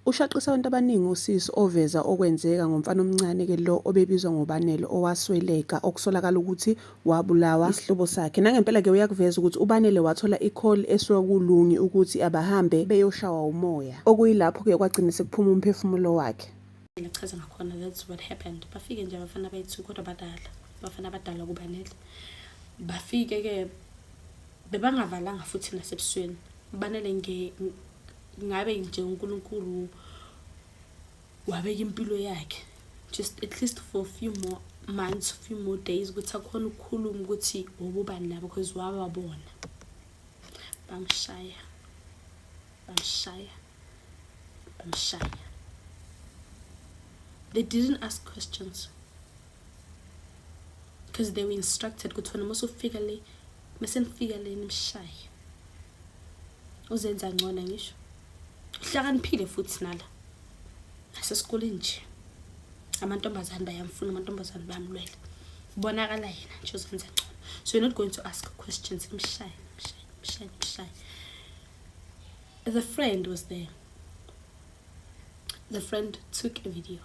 Ushaqise abantu abaningi usisi oveza okwenzeka ngomfana omncane-ke lo obebizwa ngoBanele owasweleka okusolakala ukuthi wabulawa isihlobo sakhe. Nangempela-ke uyakuveza ukuthi uBanele wathola ikholi esuka kuLungi ukuthi abahambe beyoshawa umoya, okuyilapho-ke kwagcina sekuphuma umphefumulo wakhe. mina kuchaza ngakhona that's what happened bafike nje abafana abayi-two kodwa badala abafana abadala kubanele bafike-ke bebangavalanga futhi nasebusweni banele ngabe nje unkulunkulu wabeka impilo yakhe just at least for a few more months few more days ukuthi akhona ukukhuluma ukuthi wobubani nabo because wababona bamshaya bamshaya bamshaya they didn't ask questions because they were instructed ukuthi wena uma usufika le mase nifika le nimshaye uzenza ngcona ngisho uhlakaniphile futhi nala asesikoleni nje amantombazane bayamfuna amantombazane bayamlwela kubonakala yena nje uzenza ngcono so you're not going to ask questions mshaye mshaye mshaye mshaye The friend was there. The friend took a video.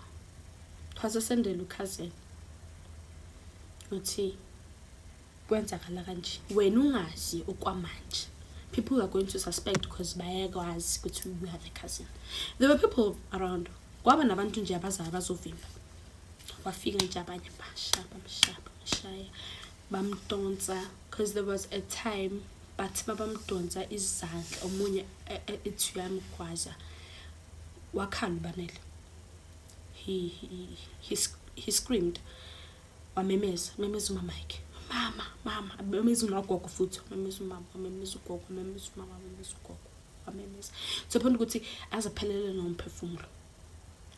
Twasesendela uCousin. Uthi kwenzakala kanje. Wena ungazi okwamanje. People are going to suspect because bayakwazi ukuthi you have a cousin. There were people around. Kwaba nabantu nje abazayo bazovimba. Wafika nje abanye bashaba mshaba mshaya. bamdonsa because there was a time bathi babamdonsa izandla omunye e, e, ethi uyamgwaza wakhala ubanele he, he, he, he screamed wamemeza memeza umama yakhe mama mama wamemeza umagogo futhi wamemeza umama wamemeza ugogo wamemeza umama wamemeza ugogo wamemeza to the point ukuthi aziphelele nomphefumulo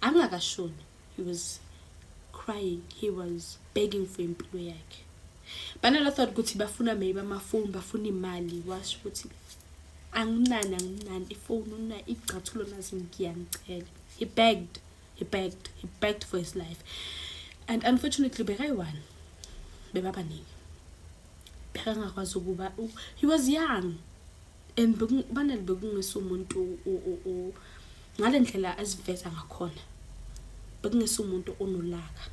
angakashoni he was crying he was begging for impilo yakhe banala thought ukuthi bafuna maybe amafoni bafuna imali washo ukuthi anginani anginani ifoni una igcathulo nazi ngiyangicela he begged he begged he begged for his life and unfortunately bekayi-one bebabaningi bekangakwazi ukuba he was young and banele bekungese umuntu ngale ndlela eziveza ngakhona bekungese umuntu onolaka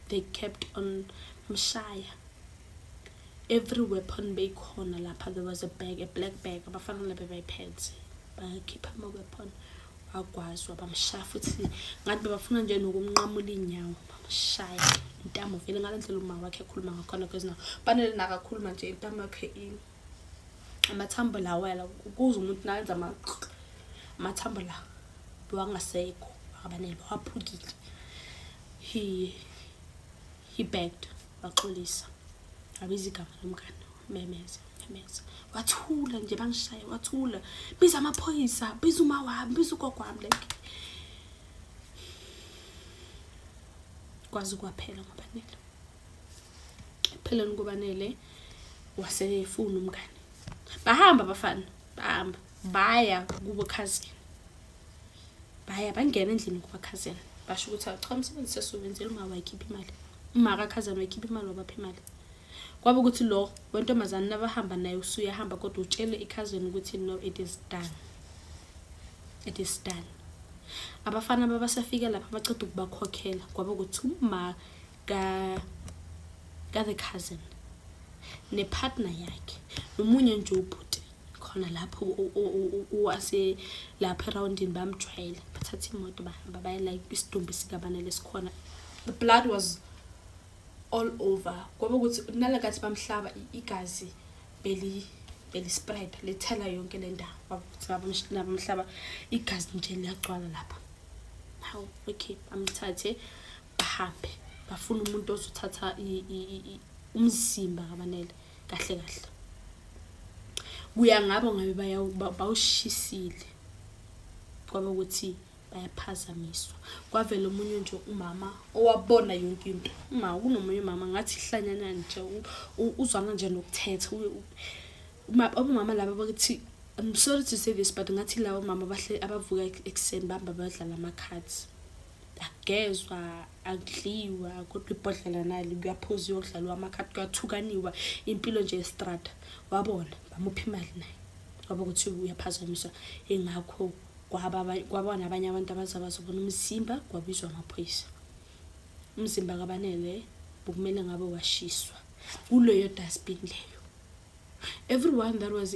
they kept on mshaya every weapon beyikhona lapha there was a bag a black bag abafana labe bayiphethe bakhipha ama-weapon bagwazwa bamshaya futhi ngathi bebafuna nje nokumnqamula iy'nyawo bamshaya intamo vele ngale ndlela uma wakhe ekhuluma ngakhona because now banele nakakhuluma nje intamo yakhe ini amathambo la wela kuze umuntu nayenza amathambo la bewangasekho akabanele waphukile he he begged waxolisa abiza igama lomngane memeza memeza wathula nje bangishaye wathula biza amaphoyisa biza uma wami biza ugogo wami like kwazi kwaphela ngobanele ekupheleni kubanele wasele efuna umngane bahamba abafana bahamba baya kubo cousin baya bangena endlini kuba cousin basho ukuthi acha umsebenzi sesiwenzela uma wayikhipha imali uma ka cousin wayikhipha imali wabapha imali kwaba ukuthi lo wentombazane nabahamba naye usuyahamba kodwa utshele i-cousin ukuthi no it is done it is done abafana babasafika lapha baceda ukubakhokhela kwaba ukuthi uma ka ka the cousin ne partner yakhe nomunye nje ubhuti khona lapho wase lapho eroundini bamjwayela bathatha imoto bahamba baya like isidumbu sikabana lesikhona the blood was all over kwaba ukuthi nalakathi bamhlaba igazi beli beli spread lethela yonke le ndawo bakuthi nabamhlaba igazi nje liyagcwala lapha how okay bamthathe bahambe bafuna umuntu ozothatha umzimba kabanele kahle kahle kuya ngabo ngabe bawushisile kwaba ukuthi bayaphazamiswa kwavela omunye nje umama owabona yonke into uma kunomunye umama ngathi hlanyana nje uzwana nje nokuthetha uma abomama laba bakuthi I'm sorry to say this but ngathi labo mama bahle abavuka ekuseni bamba badlala ama cards akugezwa akudliwa kodwa ibhodlela nali kuyaphuza uyokudlalwa amakhadi kuyathukaniwa impilo nje estrada wabona bamupha imali naye waba ukuthi uyaphazamiswa ingakho kwabona abanye abantu abaza bazobona umzimba kwabizwa amaphoyisa umzimba kabanele bokumele ngabe washiswa kuleyo dustbin leyo everyone that was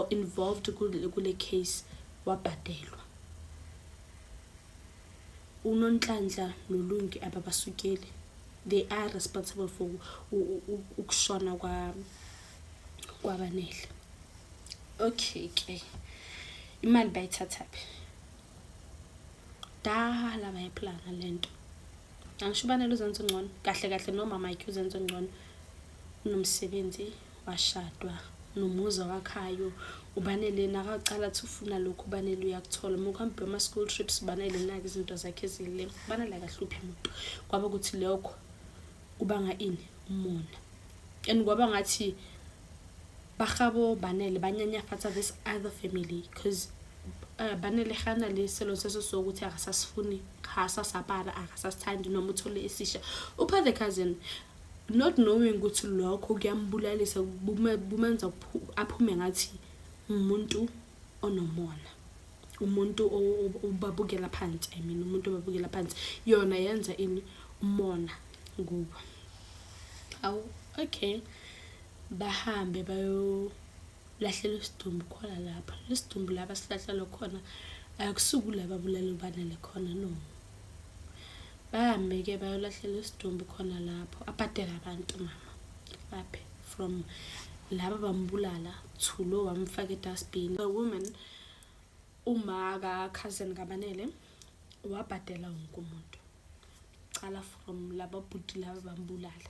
involved kule case wabhadelwa unonhlanhla nolungi ababasukeli they are responsible for ukushona kwabanele okay ke imali bayithathaphi dala bayiplana le nto angisho ubanele uzenza ongcono kahle kahle nomama yakhe uzenza ongcono unomsebenzi washadwa nomuzi awakhayo ubanele nakaqala athi ufuna lokhu ubanele uyakuthola uma kuhambe bama-school trips ubanele nake izinto zakhe ezile ubanele akahluphi muntu kwaba ukuthi lokho kubanga ini umona and kwaba ngathi bagabo banele banyanyafatsa this other family because Eh, banele gana le selo se se so ukuthi akasasifuni ga sa sapara akasasithandi noma uthole esisha upha the cousin not knowing ukuthi lokho kuyambulalisa bumenza aphume ngathi umuntu onomona umuntu obabukela phansi i mean umuntu obabukela phansi yona yenza ini umona kubo awu okay bahambe bayolahlela isidumbu khona lapha lesidumbu laba silahlelwa khona akusuku laba bulala ubanele khona no bahambe-ke bayolahlela isidumbu khona lapho abhadele abantu mama baphe from laba bambulala to lo wamfaka edustbin the woman uma ka-cousin kabanele wabhadela wonke umuntu cala from laba bhuti laba bambulala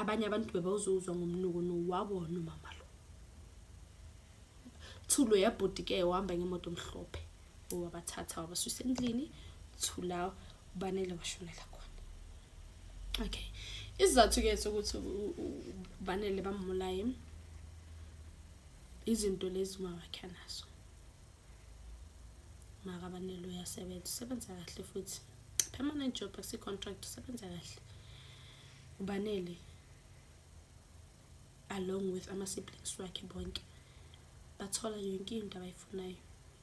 abanye abantu bebawuzuzwa ngomnuko no wabona umama lo thulo yabhuti ke uhamba ngemoto omhlophe owabathatha wabasusa endlini thula ubanele washonela khona okay isizathu ke sokuthi ubanele bamulaye izinto lezi uma wakhe anazo makabanele uyasebenza usebenza kahle futhi permanent job akusi-contract usebenza kahle ubanele along with ama-siblings wakhe bonke bathola yonke into abayifunayo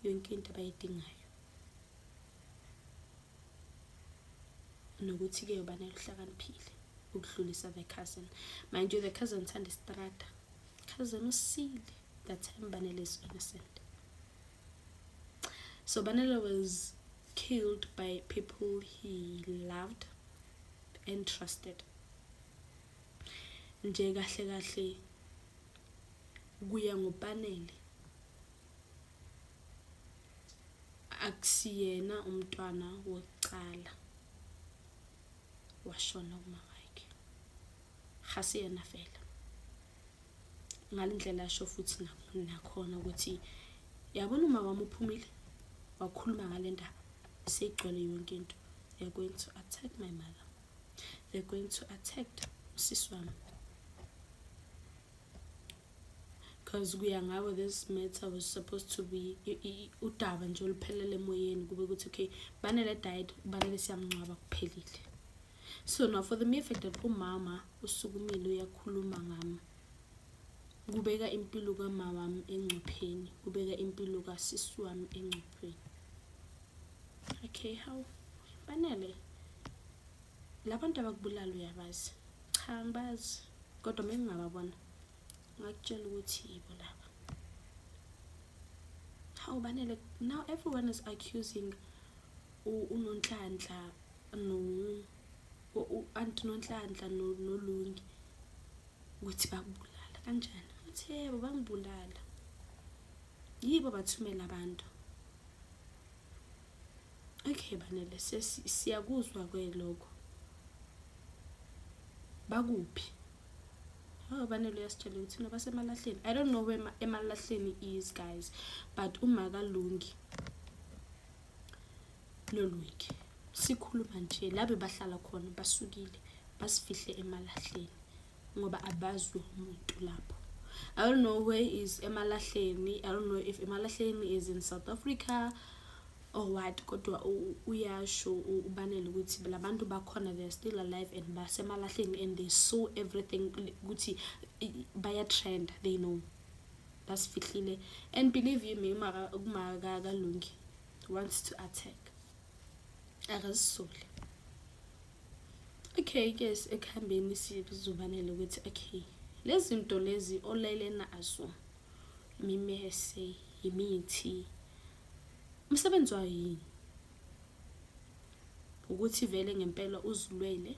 yonke into abayidingayo nokuthi-ke ubanele uhlakaniphile ukudlulisa the cousin mind you the cousin thanda isitrada cousin usile that time banele is innocent so banele was killed by people he loved and trusted nje kahle kahle kuya ngopanele akusiyena umntwana wokucala washona kumama wakhe gasiyena vele ngale ndlela asho futhi nakhona ukuthi yabona umama wami uphumile wakhuluma ngale ndaba seyigcwele yonke into they're going to attack my mother they're going to attack usisi wami because kuya ngawe this matter was supposed to be udaba nje oluphelele emoyeni kube ukuthi okay banele diet kubanele siyamngcwaba kuphelile so now for the mere fact that umama usukumile uyakhuluma ngami kubeka impilo kama wami engcupheni kubeka impilo kasisi wami engcupheni okay how banele labantu abakubulala uyabazi cha ngibazi kodwa uma ngingababona ngakutshela ukuthi yibo laba hawu banele now everyone is accusing unonhlanhla no u-anti nonhlanhla nolungi ukuthi bakubulala kanjani uthi yebo bangibulala yibo bathumela abantu okay banele siyakuzwa ke lokho bakuphi Oh banele uyasitshela ukuthi no basemalahleni i don't know where emalahleni is guys but umakalungi Lolweek sikhuluma nje labe bahlala khona basukile basifihle emalahleni ngoba abazwe umuntu lapho I don't know where is emalahleni I don't know if emalahleni is in South Africa or what kodwa uyasho ubanele ukuthi labantu bakhona they are still alive and basemalahleni and they saw everything ukuthi baya trend they know basifihlile and believe you me uma kumakalungi wants to attack akazisoli okay ke ekuhambeni sizobanele ukuthi okay lezi nto lezi olele nazo imimese imithi umsebenzi wayo yini ukuthi vele ngempela uzilwele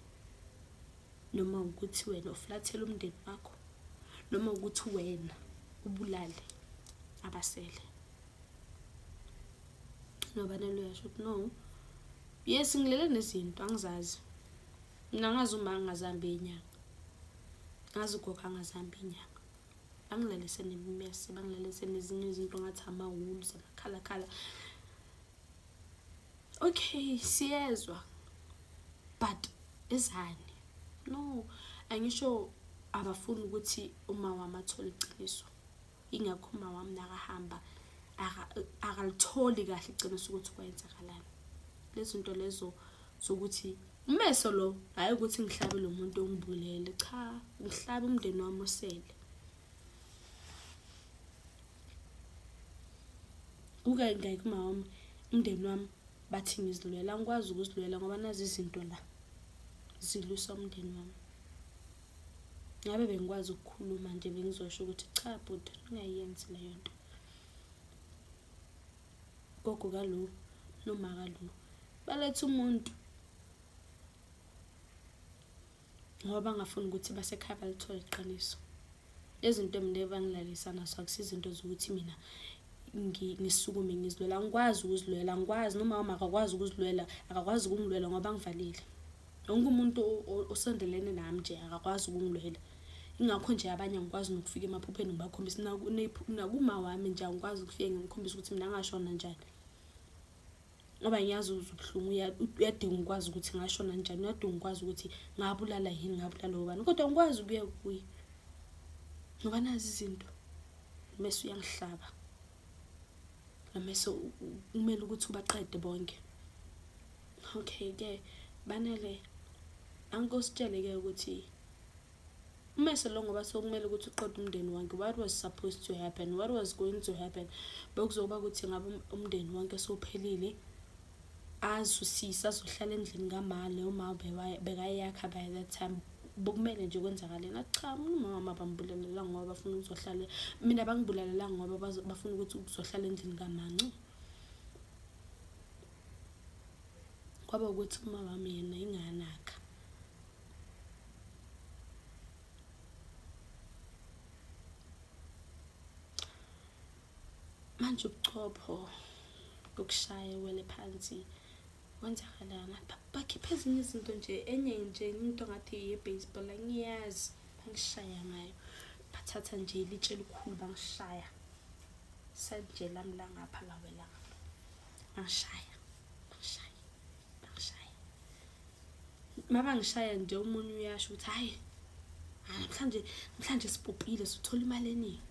noma ukuthi wena uflathele umndeni wakho noma ukuthi wena ubulale abasele noba neluyasho ukuthi no yes ngilele nezinto angizazi mina ngazi uma ngingazambi inyanga ngazi ugogo angazambi inyanga bangilalise nemimese bangilalise nezinye izinto ngathi amawulu zamakhalakhala okay siyezwa but ezani no angisho abafuni ukuthi uma wami athole iqiniso ingakho uma wami nakahamba akalitholi kahle iqiniso ukuthi kwenzakalani lezinto lezo sokuthi umeso lo hayi ukuthi ngihlabe lo muntu ongibulele cha ngihlabe umndeni wami osele uke ngeke mawami umndeni wami bathi ngizilwela ngikwazi ukuzilwela ngoba nazi izinto la zilusa umndeni wami ngabe bengikwazi ukukhuluma nje bengizosho ukuthi cha bhuti ungayenzi leyo nto gogo kalo noma kalo baletha umuntu ngoba bangafuni ukuthi basekhaya balithole iqiniso izinto mina ebangilalisa naso akusizinto zokuthi mina ngisukume ngizilwela angikwazi ukuzilwela angikwazi noma wami akakwazi ukuzilwela akakwazi ukungilwela ngoba ngivalile wonke umuntu osondelene nami nje akakwazi ukungilwela ingakho nje abanye angikwazi nokufika emaphupheni ngibakhombisa nakuma wami nje angikwazi ukufika ngimkhombisa ukuthi mina ngashona njani ngoba ngiyazi ubuhlungu uyadinga ukwazi ukuthi ngashona njani uyadinga ukwazi ukuthi ngabulala yini ngabulala ubani kodwa ngikwazi ukuya kuye ngoba nazi izinto mese uyangihlaba namese kumele ukuthi ubaqede bonke okay ke banele ankositsheleke ukuthi uma selo ngoba sokumele ukuthi uqede umndeni wonke what was supposed to happen what was going to happen bekuzokuba ukuthi ngabe um-, umndeni wonke sophelile azusise azohlala endlini kama leyo ma bekayakha by that time bokumele nje kwenzakalena cha umama bambulalela ngoba bafuna ukuzohlala mina bangibulalela ngoba bafuna ukuthi ukuzohlala endlini kamancu kwaba ukuthi uma wami yena inganakha manje ubuchopho bokushaya wele phansi kwenzakalana bakhiphe ezinye izinto nje enye nje into ngathi ye-baseball angiyazi bangishaya ngayo bathatha nje ilitshe elikhulu bangishaya sanjelami langapha lawelanga bangishaya bangishaya bangishaya uma bangishaya nje umunye uyasho ukuthi hhayi namhlanje namhlanje sibhubhile suthola imali eningi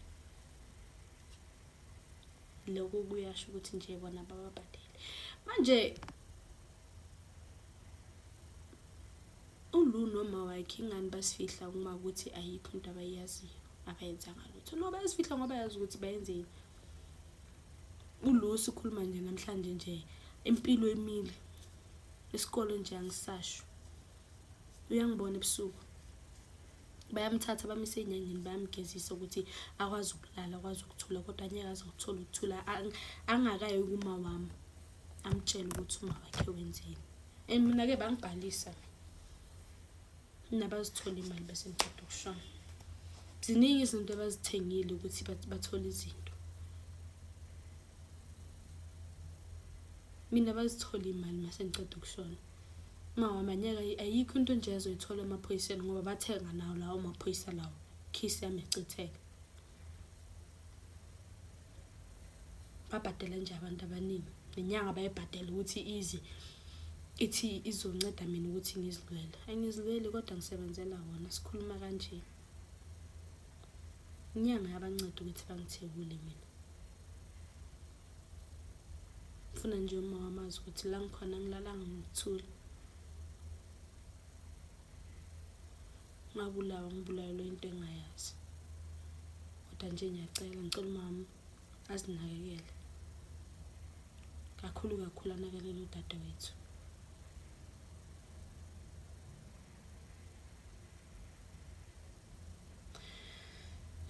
lokho kuyasho ukuthi nje bona bababhadele manje ulu noma wakhe ingani basifihla uma ukuthi ayikho into abayaziyo abayenzanga lutho no bayasifihla ngoba yazi ukuthi bayenzeni Ulusi ukhuluma nje namhlanje nje impilo emile isikole nje angisasho uyangibona ebusuku bayamthatha bamise enyangeni bayamgezisa ukuthi akwazi ukulala akwazi ukuthula kodwa anyeke aze ukuthola ukuthula angakayi kuma wami amtshele ukuthi uma wakhe wenzeni and mina-ke bangibhalisa nabazithola imali bese ngiqeda ukushona ziningi izinto abazithengile ukuthi bathole izinto mina bazithole imali mase ngiqeda ukushona mawamanyaka ayikho into nje azoyithola emaphoyiseni ngoba bathenga nawo lawo maphoyisa lawo khisi yami yachitheka babhadela nje abantu abaningi nenyanga bayibhadela ukuthi ize ithi izonceda mina ukuthi ngizilwele angizilweli kodwa ngisebenzela wona sikhuluma kanje inyanga yabanceda ukuthi bangithekule mina ngifuna nje uma wamazi ukuthi la ngikhona ngilalanga ngokuthula ngabulawa ngibulalelwe into engayazi kodwa nje ngiyacela ngicela umama azinakekele kakhulu kakhulu anakelele udade wethu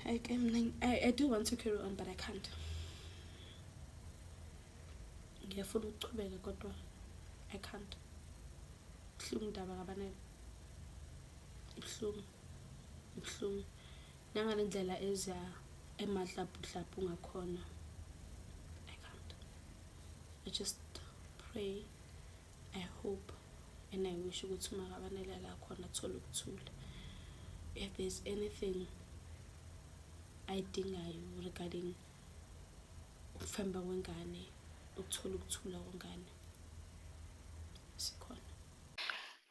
I, can, I, I do want to carry on but I can't ngiyafuna ukuchubeka kodwa I can't buhlungu ndaba kabanele ibuhlungu ibuhlungu nangale ndlela eza emadlabhudlabhu ngakhona i can't i just pray i hope and i wish ukuthi umakabanele la khona athole ukuthula if there's anything ayidingayo regarding ukufamba kwengane ukuthola ukuthula kwengane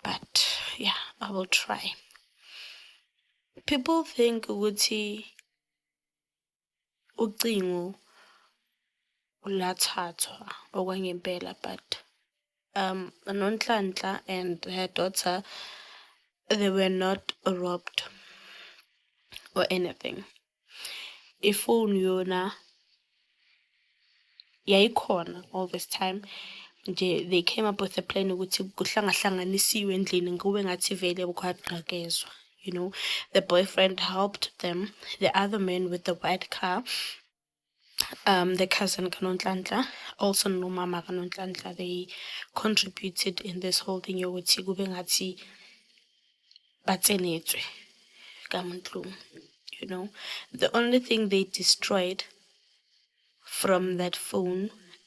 but yeah i will try people think ukuthi ucingo ulathathwa okwangempela but um nonhlanhla and her daughter they were not robbed or anything ifoni yona yayikhona all this time nje they came up with a plan ukuthi kuhlangahlanganisiwe endlini kube ngathi vele kwagqakezwa you know the boyfriend helped them the other man with the white car um, the cousin kaNonhlanhla, also nomama kaNonhlanhla, they contributed in this whole thing yokuthi kube ngathi batsenetswe kaMntlumu. You know, the only thing they destroyed from that phone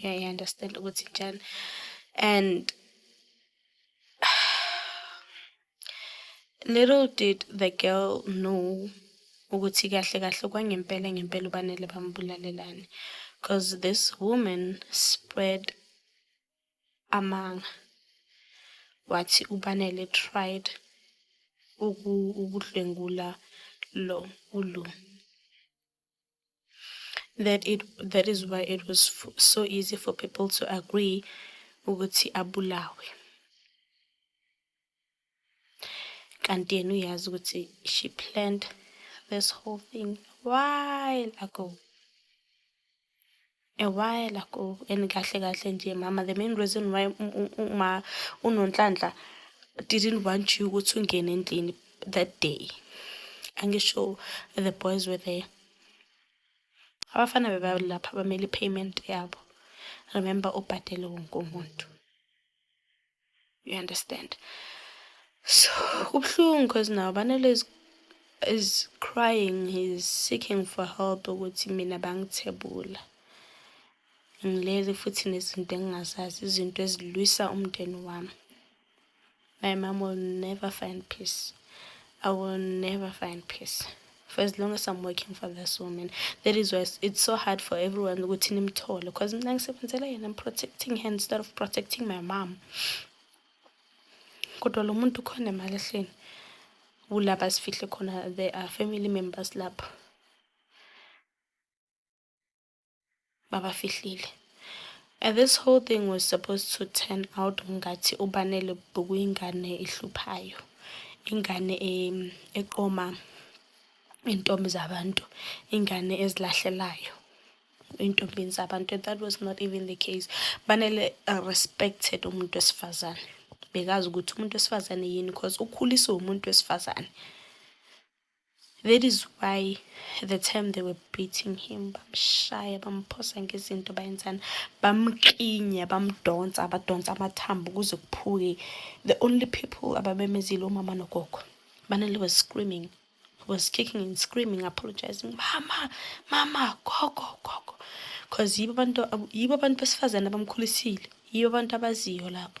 yeah i understand ukuthi njani and little did the girl know ukuthi kahle kahle kwangempela ngempela ubanele bambulalelani because this woman spread amanga wathi ubanele tried ukudlwengula lo ulo that it that is why it was so easy for people to agree ukuthi abulawe kanti yena uyazi ukuthi she planned this whole thing while ago a while ago and kahle kahle nje mama the main reason why uma unonhlanhla didn't want you ukuthi ungene endlini that day angisho the boys were there abafana bebalapha bamele i-payment yabo remember ubhadele wonke umuntu you understand so kubuhlungu because now banele is, is crying he's seeking for help ukuthi mina bangithebula ngilele futhi nezinto engingazazi izinto ezilwisa umndeni wami my mom will never find peace i will never find peace for as long as I'm working for this woman. That is why it's so hard for everyone ukuthi nimthole because mina ngisebenzela yena I'm protecting her instead of protecting my mom. Kodwa lo muntu khona emalahleni kulapha sifihle khona there are family members lapha. babafihlile and this whole thing was supposed to turn out ngathi ubanele bukuyingane ehluphayo ingane eqoma intombi zabantu ingane ezilahlelayo intombini zabantu and that was not even the case banele uh, respected umuntu wesifazane bekazi ukuthi umuntu wesifazane yini because ukhuliswe umuntu wesifazane That is why the time they were beating him bamshaya bamphosa ngezinto bayenzani bamklinya bamdonsa abadonsa amathambo kuze kuphuke the only people ababemezile umama nogogo banele was screaming was kicking and screaming apologizing mama mama gogo gogo because yibo abantu yibo abantu besifazane abamkhulisile yibo abantu abaziyo lapho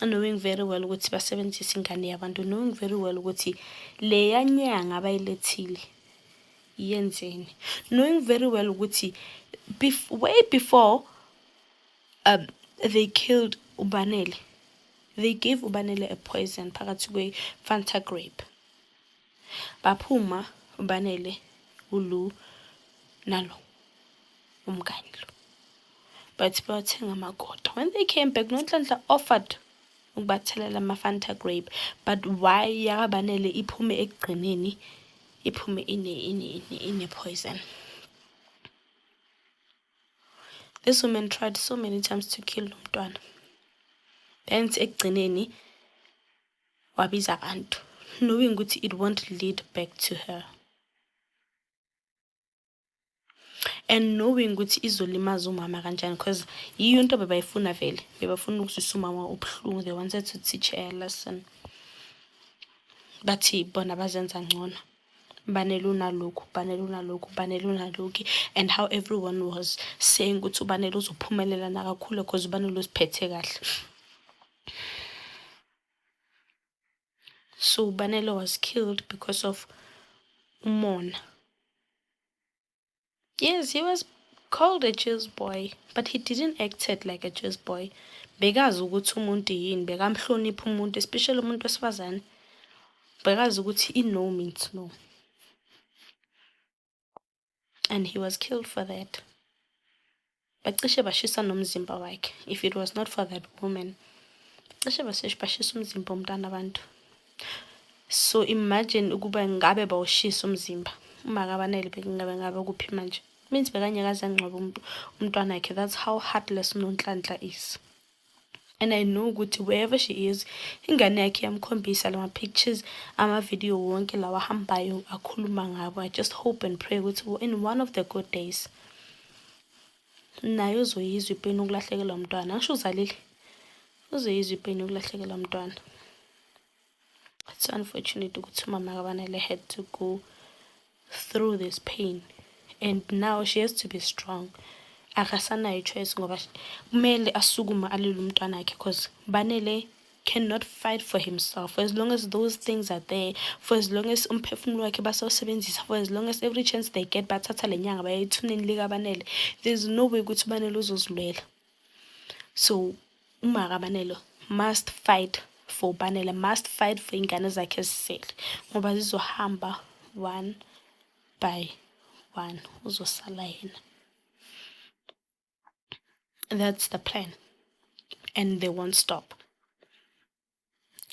knowing very well ukuthi basebenzisa ingane yabantu knowing very well ukuthi leya nyanga abayilethile yenzeni knowing very well ukuthi bef way before um, they killed ubanele they gave ubanele a poison phakathi kwe-fanta grape baphuma ubanele ulu nalo umngani lo but bayothenga amagoda when they came back nonhlanhla offered ukubathelela ama-fanta grape but why yakabanele iphume ekugcineni iphume ine-poison this woman tried so many times to kill lo mntwana then ekugcineni wabiza abantu knowing ukuthi it won't lead back to her and knowing ukuthi izolimaza umama kanjani because yiyo into bebayifuna vele bebafuna ukuzwisa umama ubuhlungu they wanted to teach her lesson bathi bona bazenza ngcono banele unalokhu banele unalokhu banele unalokhu and how everyone was saying ukuthi ubanele uzophumelela nakakhule because ubanele uziphethe kahle So Banelo was killed because of umona. Yes, he was called a cheese boy, but he didn't act it like a cheese boy. Bekazi ukuthi umuntu yini, bekamhlonipha umuntu, especially umuntu wesifazane. Bekazi ukuthi i-no means no. and he was killed for that bacishe bashisa nomzimba wakhe if it was not for that woman cishe bashisa umzimba womntana abantu so imagine ukuba ngabe bawushisa umzimba uma kabanele bekungabe ngabe kuphi manje means bekangeke aze angcwabe umntwana wakhe that's how heartless unonhlanhla is and I know ukuthi wherever she is ingane yakhe yamkhombisa lama pictures ama video wonke lawa hambayo akhuluma ngabo I just hope and pray ukuthi in one of the good days naye uzoyizwa ipeni ukulahlekelwa umntwana angisho uzalile uzoyizwa ipeni ukulahlekelwa umntwana it's unfortunate ukuthi umama kabanele had to go through this pain and now she has to be strong akasanayo ichoice ngoba kumele asukume alile umntwana wakhe because banele cannot fight for himself for as long as those things are there for as long as umphefumulo wakhe basawusebenzisa for as long as every chance they get bathatha le nyanga bayayithuneni likabanele there's no way ukuthi ubanele uzozilwela so uma kabanelo must fight for ubanele must fight for iy'ngane zakhe zisele ngoba zizohamba one by one uzosala yena that's the plan and they won't stop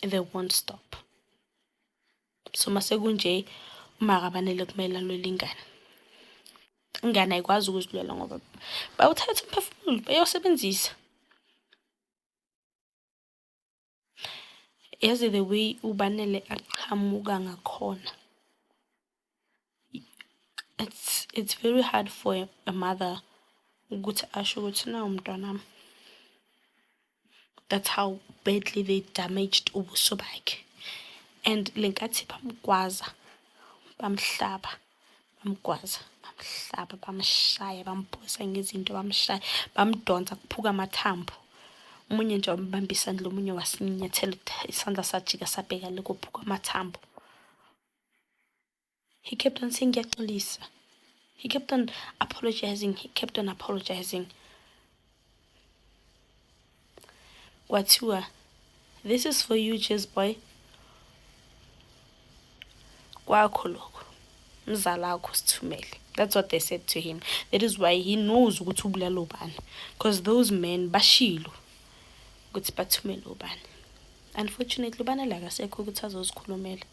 they won't stop so masekunje umakabanele kumele alwele ingane ingane ayikwazi ukuzilwela ngoba bawuthatha umphefumulo bayosebenzisa yazi the way ubanele aqhamuka ngakhona it's it's very hard for a mother ukuthi asho ukuthi nawu mntwanami that's how badly they damaged ubuso bakhe and le nkathi bamgwaza bamhlaba bamgwaza bamhlaba bamshaya bamphosa ngezinto bamshaya bamdonsa kuphuka amathambo omunye nje wambambisa ndlo omunye wasinyathela isandla sajika sabheka le kophuka amathambo He kept on saying ngiyaxolisa. He kept on apologizing. He kept on apologizing. Kwathiwa, this is for you, Jazz boy. Kwakho lokho. Mzala wakho sithumele. That's what they said to him. That is why he knows ukuthi ubulala ubani. Because those men bashilo ukuthi bathumele ubani. Unfortunately ubani la kasekho ukuthi azozikhulumela.